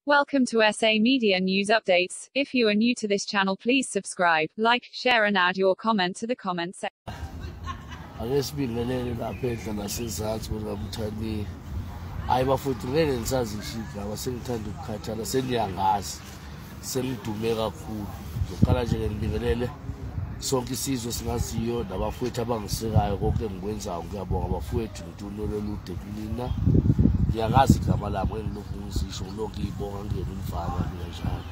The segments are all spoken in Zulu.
Welcome to SA Media News Updates. If you are new to this channel, please subscribe, like, share and add your comment to the comment section. ake sibingelele lapha endla nasezansi bona mthandi hayi bafowethu ngeke ngisazishidla aba sengithanda ukukhathala seniyangazi sengidume kakhulu ngizoqala nje-ke ngibingelele sonke isizwe singaziyo nabafowethu abangisekayo konke engikwenzayo ngiyabonga bafowethu Dulolo lude kunina. Ngiyakazi igama labo engilokhu ngizisho ngilokhu ngiyibonga ngiyena umfana mina njalo.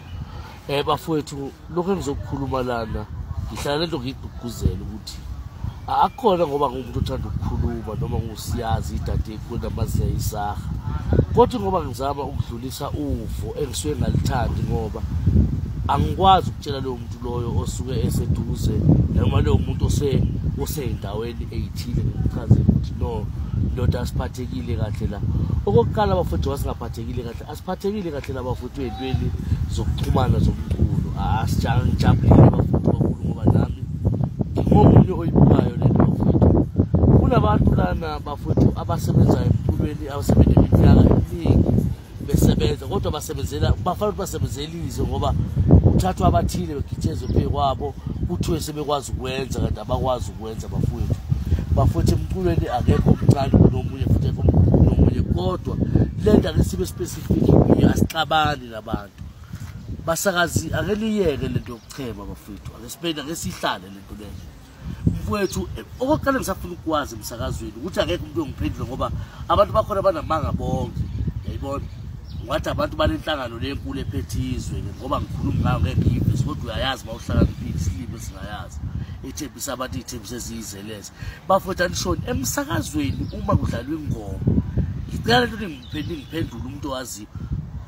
Eh bafowethu lokho engizokukhuluma lana ngihlala lento ngigqugquzela ukuthi akukhona ngoba ngumuntu othanda ukukhuluma noma ngusiyazi idadekwe namaziya isaha kodwa ngoba ngizama ukudlulisa uvo engisuke ngalithandi ngoba angikwazi ukutshela lowo muntu loyo osuke eseduze noma leyo muntu ose oseyindaweni eyithile ngimchazele ukuthi no ndoda asiphathekile kahle la okokuqala abafowethu wasingaphathekile kahle asiphathekile kahle la bafowethu ey'ntweni zokuxhumana zomculo asijabulile abafowethu kakhulu ngoba nami ngingomunye oyibukayo le nto bafowethu kunabantu lana bafowethu abasebenzayo emculweni abasebenza iminyaka eminingi besebenza kodwa basebenzela bafana ukuthi basebenzela izwe ngoba kuthathwa abathile begitshezwe phezu kwabo kuthiwe sebekwazi ukwenza kanti abakwazi ukwenza bafowethu bafowethu emculweni akekho omncane kunomunye futhi ekho kunomunye kodwa le nto ake sibe specific kuyo asixabani nabantu basakazi ake niyeke le nto yokuchema bafowethu ake siphinde ake sihlale le nto leyo mfowethu eh, okokuqala ngisafuna ukukwazi emsakazweni ukuthi akekho umuntu ongiphendule ngoba abantu bakhona banamanga bonke yayibona wathi abantu banenhlangano lenkulu ephethizwe ke ngoba ngikhuluma ngayo ngeke ngiyivise kodwa uyayazi uma uhlakaniphile isilimi esingayazi ithembisa abantu iy'thembisa eziyizeleza bafowethu anishoni emsakazweni uma kudlalwa ingoma ngicela lento ningiphendule umuntu owaziyo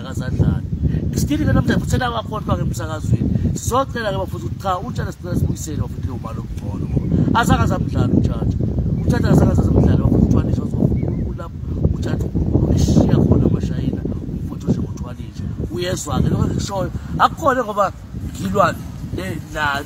akazadlali isitili ke namhlanje futhi selawakhohlwa ke emsakazweni sizocela-ke bafuthi ukuthi cha utshana sicela sibuyisele bafuthi leyo mali okungcono ngoba azange azamdlala utshatsha utshatsha azange azazamdlala bafuthi uthwanisha ulapho utshatsha ulishiya khona amashayina umfuthi ushe ngothwanisha uyezwa-ke lokho engikushoyo akukhone ngoba ngilwane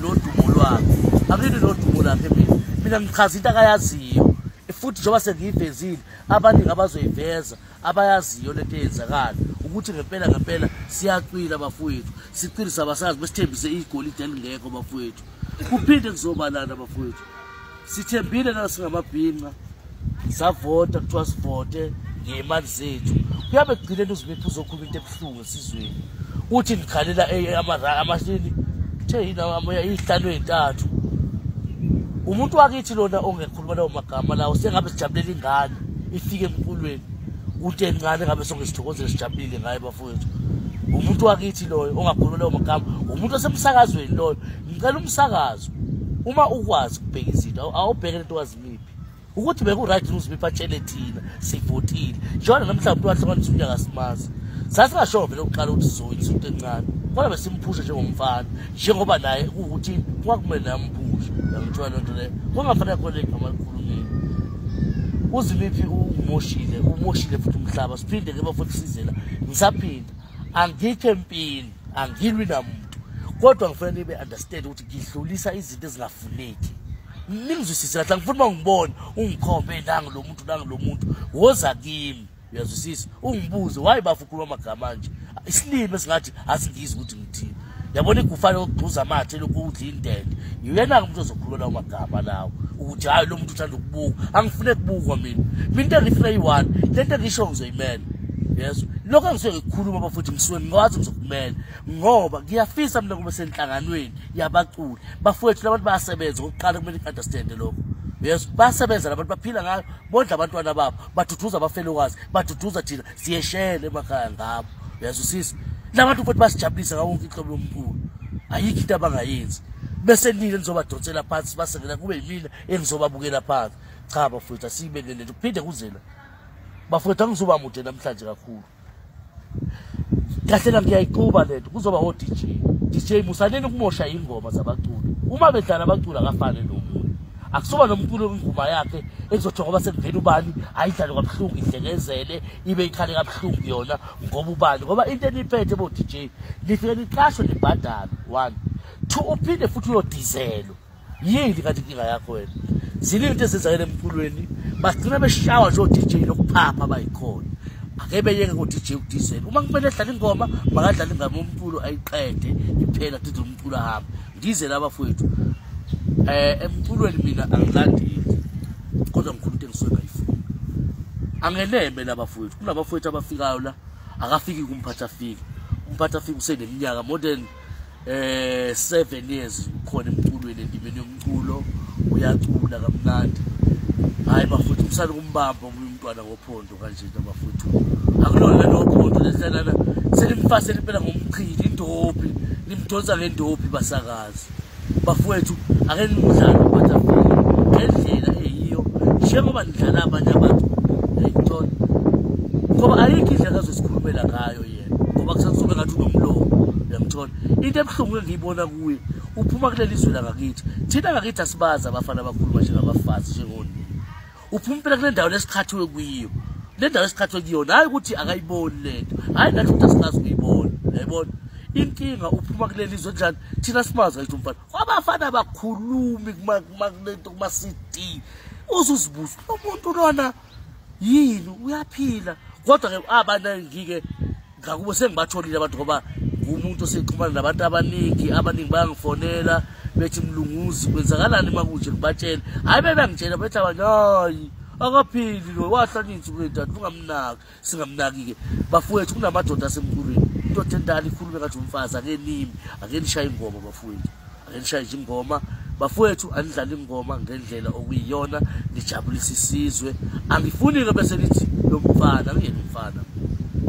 nodumo lwakhe angini nodumo lakhe mina mina ngichaza into akayaziyo futhi njengoba sengiyivezile abaningi abazoyiveza abayaziyo lento eyenzakala ukuthi ngempela ngempela siyacwila bafowethu sicile sabasazi besithembise igolide elingekho bafowethu kuphinde kuzobalana bafowethu sithembile na singamabhinqa savota kuthiwa sivote ngey'mali zethu kuyabe kugcineni uzibethu uzokhuluma into ebuhlungu Sizweni kuthi likhalela abashini kuthe yini amoya iyihlanu ezintathu umuntu wakithi lona ongekhuluma lawo magama lawo sengabe sijabulela ingane ifike emkulweni uthi encane ngabe sonke sithokozele sijabulile ngaye bafowethu umuntu wakithi loyo ongakhuluma lawo magama umuntu osemsakazweni loyo ngicela umsakazo uma ukwazi ukubheka izinto awubheke lento wazimiphi ukuthi beku-right ukuthi uzibe batshele thina sivotile njengoba namhlawumbe umuntu wahlanganisa umntu akasimazi sasingashoyo vele ukuqala ukuthi sizoyini isonto encane kodwa besimphushe njengomfana njengoba naye kuwukuthi kwakumele naye amphushe yangithiwa loo nto leyo kungafanele khona igama likhulumile uzimiphi umoshile umoshile futhi umhlaba siphinde ke bafuthi sizela ngisaphinda angikho empini angilwi namuntu kodwa ngifanele nibe understand ukuthi ngidlulisa izinto ezingafuneki ningizwisise kahle angifuni uba ungibone ungikhombe nangu lo muntu nangu lo muntu woza kimi uyazwisisa ungibuze waye bafa ukhuluma amagama anje isilimi esingathi asingizi ukuthi ngithini yabona igufane okugxuza amathe lokhu udla indende yena-ke umuntu ozokhuluma lawo magama lawo ukuthi hhayi lo muntu uthanda ukubuka angifune kubukwa mina mina into engifuna yi-one le nto engisho ngizoyimela yeso lokho engisuke ngikukhuluma bafuthi ngisuke ngikwazi ngizokumela ngoba ngiyafisa mina kube senhlanganweni yabaculi bafowethu labantu bayasebenza okokuqala kumele i-understande lokho yes basebenza labantu baphila ngayo bondla abantwana babo baduduza abafelokazi baduduza thina siyeshele emakhaya ngabo uyazwisisa labantu futhi basijabulisa ngawo wonke inhlobo yomculo ayikho into abangayenzi bese nini nizobadonsela phansi basengena kube yimina engizobabukela phansi cha bafowethu asiyibelelele kuphinde kuzela bafowethu angizoba mude namhlanje kakhulu kahle kahle ngiyayixuba lento kuzoba o DJ DJ musaneni ukumosha ingoma zabaculi uma bedlala abaculi akafane nomuntu akusuba nomculo ingoma yakhe ekuzothi ngoba sekuvela ubani ayidlale kabuhlungu idlekezele ibe ikhale kabuhlungu yona ngoba ubani ngoba into eniphethe bo DJ lifike niqashwe nibhadalo one two uphinde futhi uyodizelwa yini kanti inkinga yakho wena ziningi into ezenzakele emculweni bagcina beshawa nje o-dj lokuphapha bayikhona ake beyeke ngo-dj ukudizela uma kumele edlala ingoma makadlala ingama umculo ayiqede iphela dide umculo ahambe ngidizela abafowethu um emculweni mina angilandeli kodwa ngikhulu into engisuke ngayifuni angeneme labafowethu kunabafowethu abafikayo la akafiki kumphathi afike umphathi afike useneminyaka more than eh 7 years khona emculweni endimeni yomculo uyacula kamnandi hayi bafuthu kusale kumbamba omunye umntwana ngophondo kanje nto bafuthu akulona lento ngophondo lehlelana selimfasele impela ngomchili indobi nimdonsa ngendobi basakazi bafowethu ake nimdlalo batafile ngendlela eyiyo njengoba nidlala abanye abantu ayikuthola ngoba ayikho indlela azosikhulumela ngayo ngoba kusakuzobe ngathi unomlomo uyamthola into ebuhlungu engiyibona kuye uphuma kuleli zwe langakithi thina ngakithi asibazi abafana abakhuluma njengabafazi njengonini uphuma impela kule ndawo lesikhathiwe kuyiyo le ndawo esikhathiwe kuyona hhayi ukuthi akayiboni le nto hhayi nathi ukuthi asikazi ukuyibona yayibona inkinga uphuma kuleli zwe njani thina simazi ngayithi umfana abafana abakhulumi kulento kuma-cd uzuzibuza umuntu lona yini uyaphila kodwa ke abanangike ngakubo sengibatholile abantu ngoba ngumuntu osexhumana nabantu abaningi abaningi bayangifonela bethi mlunguzi kwenzakalani uma kunje ngibatshele hhayi bebengitshela bethi abanye hayi akaphili lo wahlanyinzi kule dade ungamnaki singamnaki-ke bafowethu kunamadoda asemculweni into thentani ikhulume ngathi umfazi ake nimi ake nishaye ingoma bafowethu ake nishaye nje ingoma bafowethu anidlala ingoma ngendlela okuyiyona nijabulisa isizwe angifuni-ke bese nithi lo mfana angiyena umfana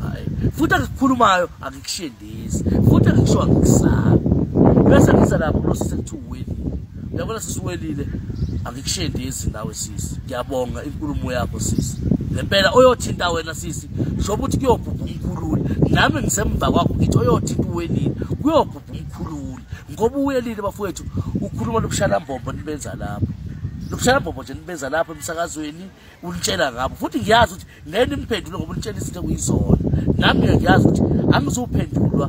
hayi futhi angikukhulumayo angikushini this futhi angisho angikusala bese ngiza lapho kulo sisi kuthi uwelile uyabona sisi uwelile angikushendezi nawe sisi ngiyabonga inkulumo yakho sisi ngempela oyothinta wena sisi sho ukuthi kuyobhubha umkhululi nami ngisemva kwakho ngithi oyothinta uwelile kuyobhubha umkhululi ngoba uwelile bafowethu ukhuluma lobushalambombo nibenza lapho lobushalambombo nje nibenza lapho emsakazweni ulitshela ngabo futhi ngiyazi ukuthi lento imphendule ngoba ulitshela izinto ekuyizona nami ke ngiyazi ukuthi angizuphendulwa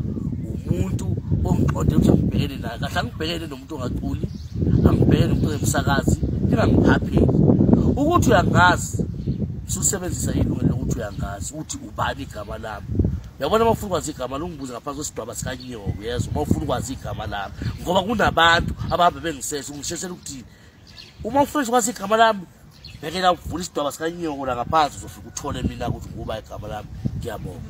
umuntu ongiqonde ukuthi angibhekene naye kahle angibhekene nomuntu ongaculi angibhekene nomuntu ongumsakazi ingangiphapheli ukuthi uyangazi susebenzisa ilungelo lokuthi uyangazi uthi ubani igama lami yabona uma ufuna ukwazi igama lungibuze ngaphansi kwesidwaba sikanyoka uyezwa uma ufuna ukwazi igama lami ngoba kunabantu abahambe bengisese ungishesela ukuthini uma ufresh kwasi igama lami bhekela uvula isidwaba sikanyoko la ngaphansi uzofika uthole mina ukuthi nguba igama lami ngiyabonga